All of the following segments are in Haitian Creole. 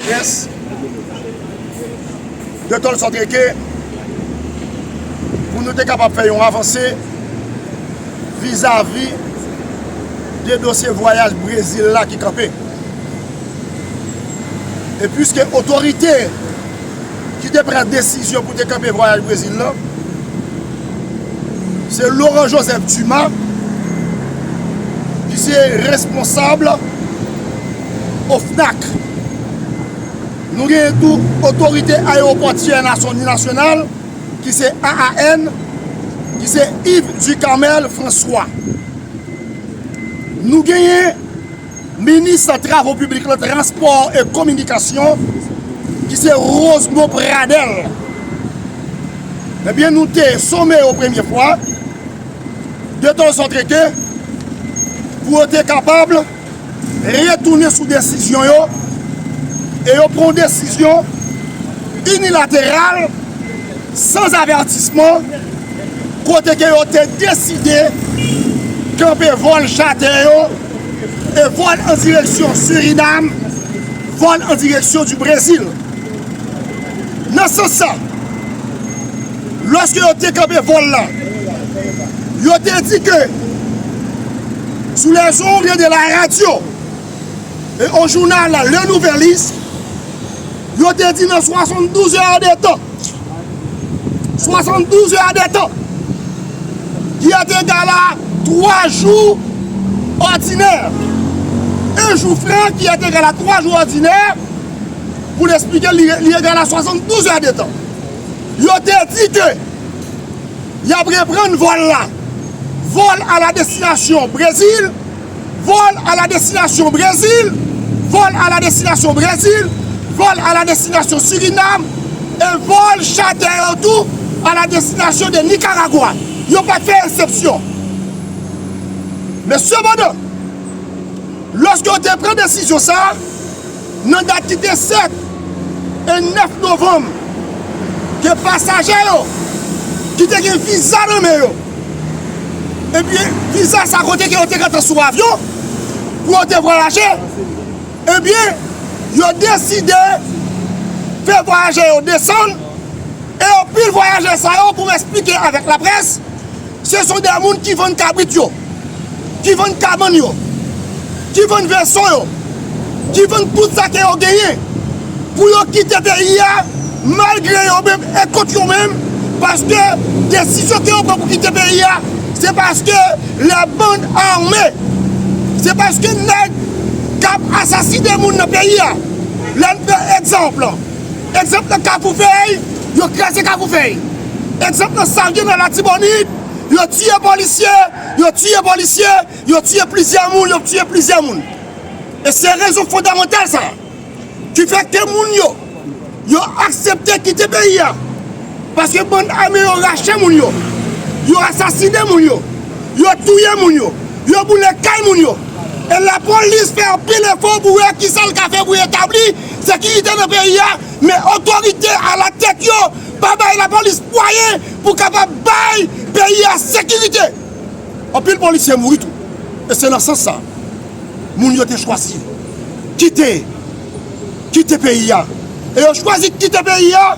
Yes. De tòl sòt eke pou nou te kapab fè yon avanse vizavi de dosye vwayaj Brezil la ki kanpe. E pwiske otorite ki te pran desizyon pou te kanpe vwayaj Brezil la se Laurent Joseph Dumas ki se responsab OFNAC. Nou genyen tou Otorite Ayeropòtyè Nasyonal ki se AAN ki se Yves Ducamel François. Nou genyen Minis Travo Piblik lan, Transpò e Kominikasyon ki se Rosemond Pradel. Ebyen nou te some yo premye fwa detan zòt rete pou yo te kapab. retounen sou desizyon yo e yo pran yon desizyon inilateral san avètisman kote ke yo te deside kanpe vòl chatè yo e vòl an direksyon Surinam, vòl an direksyon di Brezil. Nan sans sa. Lòske yo te kanpe vòl la, yo te di ke sou les ondes de la radio et au journal Le Nouvelliste, yo te di nan 72 heures de temps, 72 heures de temps, ki est égal à 3 jours ordinaires, un jour franc qui est égal à 3 jours ordinaires, pou l esplike l, li égal à 72 heures de temps. yo te di ke y ap reprann vòl la, Vol à la destination Brésil, Vol à la destination Brésil, Vol à la destination Brésil, Vol à la destination Suriname, e vòl chatè yo tou à la destination de Nicaragua. Yo pa t fè esepsyon. Men sepandan, lòske yo te pran desizyon sa a, Nan dat ki te 7 e 9 novanm, ke pasaje yo ki te gen viza nan men yo, epi viza sa kote ke yo te gentan sou avyon pou yo te vwayaje, ebyen yo deside fè vwayaje yo desann, e anpil vwayaje sa yo pou esplike avèk laprès, Se son de moun ki vann kabrit yo, ki vann kabann yo, ki vann veso yo, ki vann tout sa ke yo genyen pou yo kite peyi a malgre yo menm e kont yo menm paske desizyon ke yo pran pou kite peyi a se paske la band armee, se paske nèg kap asasine moun nan peyi a. Lè n pran egzanp. Egzanp nan Kafoufèy, yo kraze Kafoufèy. Egzanp nan Salye nan Latibonit, yo tiye polisye, yo tiye polisye, yo tiye plizyè moun, yo tiye plizyè moun. E se rezon fondamantal sa a ki fè ke moun yo, yo aksepte kite peyi a. Paske bann ame yo rache moun yo, yo asasine moun yo, yo touye moun yo, yo boule kay moun yo. E lapolis fè anpil efò pou wè kisa l ka fè pou etabli Sekirite nan peyi a, men otorite alatèt yo pa bay lapolis mwayen pou kapab bay peyi a sekirite. Anpil polisye mouri tou e se nan sans sa moun yo te chwazi kite kite peyi a e yo chwazi kite peyi a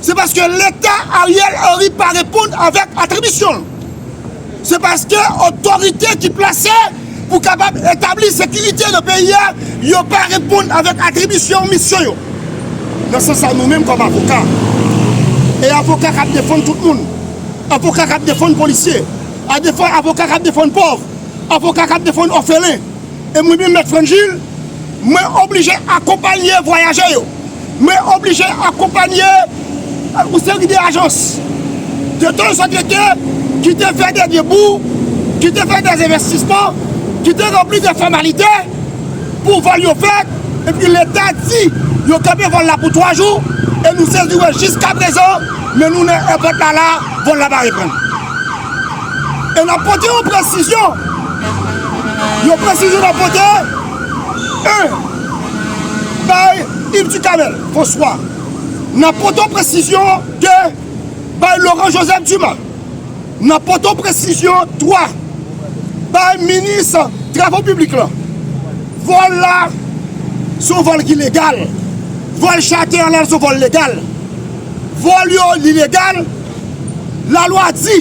se paske leta Ariel Henry pa reponn avèk atribisyon l. Se paske otorite ki plase pou kapab etabli sekirite nan peyi a yo pa reponn avèk atribisyon misyon yo. Nan sans sa nou menm kòm avoka, e avoka k ap defann tout moun, avoka k ap defann polisye, avoka k ap defann pòv, avoka k ap defann òfelen, E mwen menm Mèt Frangil, mwen oblije akonpanye vwayajè yo, mwen oblije akonpanye yon seri de ajans de tan san trete ki te fè de debou, ki te fè de envestisman, ki te ranpli de fòmalite pou vòl yo fèt, epi Leta di yo kanpe vòl la pou 3 jou, e nou sezi wè jiskaprezan men nou nan èpòt la la, vòl la pa reprann. E nap pote yon presizyon, yon presizyon nap pote, 1. Bay Yves Ducanel François, nap pote yon presizyon, 2. Bay Laurent Joseph Dumas, nap pote yon presizyon, 3. Bay minis travo piblik lan, vòl la se yon vòl ki legal, vòl chate an la se yon vòl legal, vòl yo li legal. Lalwa di,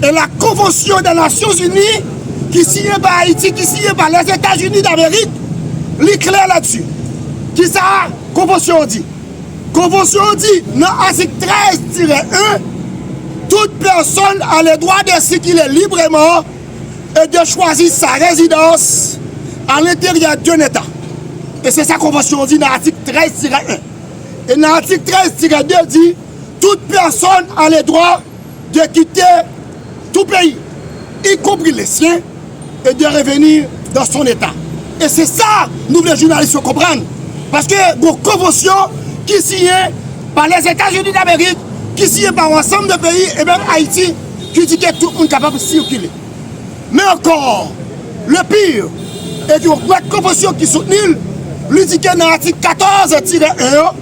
e la konvansyon dè Nasyon Zini ki siyen pa Ayiti, ki siyen pa Lèzetazini Damerik, li klè ladi. Ki sa konvansyon an di? Konvansyon an di, nan atik 13 tirè 1, Tout pèsonn aledwa de sikile libreman e de chwazi sa rezidans alenteryè d'un Eta. E se sa konvansyon an di nan atik 13 tirè 1. E nan atik 13 tirè 2 di. Tout pèsòn a le dwa de kite tou peyi, y konpri le syen, e de revenir dans son Etat. E se sa nou vle jounalis yo konprann, paske gon konvansyon ki siyen pa Lèzetazini Damerik, ki siyen pa yon ansanm de peyi e menm Ayiti ki di ke tout moun kapab sikile. Men ankò, le pire e ke yon pwèt konvansyon ki soutni l, li di ke nan atik 14 tire 1 an,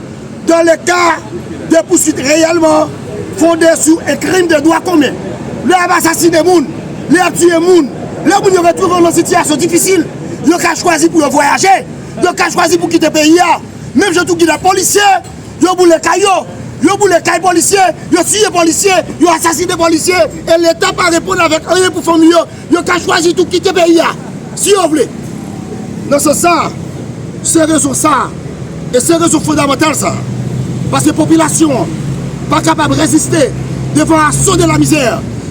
Dans le ka de pouswit reyèlman fonde sou un crime de droit commun, lè y ap asasine moun, lè y ap tiye moun, lè moun yo retwouve yo nan sitiyasyon difisil, yo ka chwazi pou yo vwayaje, yo ka chwazi pou kite peyi a, menm jan tou ki lè polisye, yo boule kay yo, yo boule kay polisye, yo tiye polisye, yo asasine polisye, e Leta pa reponn avèk anyen pou fanmi yo. Yo ka chwazi tou kite peyi a si yo vle. Nan sans sa a, se rezon sa a e se rezon fondamantal sa a, paske popilasyon an pa kapab reziste devan aso de lamizè,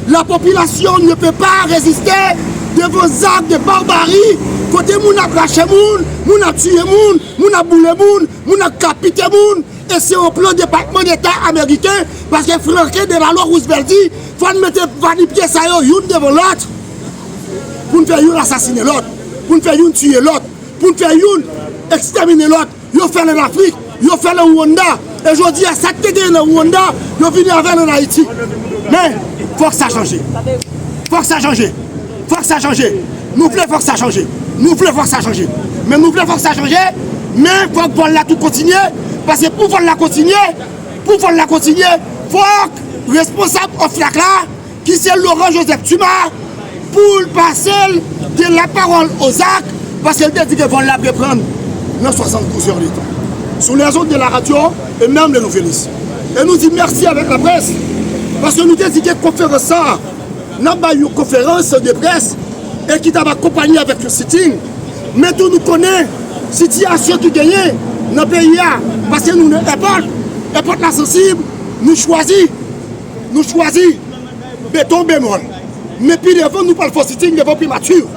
la population ne peut pas resister devant zak de barbari kote moun ap rache moun, moun ap tiye moun, moun ap boule moun, moun ap kapite moun. E se yon plan Depatman Deta ameriken paske Franklin Delano Roosevelt di fò n mete va nu pye sa yo youn devan lòt pou n fè youn asasine lòt, pou n fè youn tiye lòt, pou n fè youn ekstèmine lòt. Yo fè l ann Afrik, yo fè l an Rwanda e jodi a sa k te genyen nan Rwanda yo vini avè l ann Ayiti. Men, fòk sa chanje. Fòk sa chanje. Fòk sa chanje! Nou vle fòk sa chanje! Nou vle fòk sa chanje! Men nou vle fòk sa chanje! Men fòk vòl la tou kontinye! Paske pou vòl la kontinye! Pou vòl la kontinye! Fòk responsab OFNAC la ki se Laurent Joseph Tuma pou l pase l de la pawòl o zak! Paske l te di ke vòl la ap reprann nan 72 zè de tan! Sou les ondes de la radio et meme le Nouvelliste! E nou di mèsi avèk laprès! Paske nou te di ke konferans sa a! Nap bay yon konferans de près e ki tap akonpanye avèk yon sitting, men tou nou konnen sitiyasyon ki genyen nan peyi a paske nou nan èpòt, èpòt la sansib, nou chwazi, nou chwazi beton bemòl, men pi devan nou pral fè yon sitting devan primati.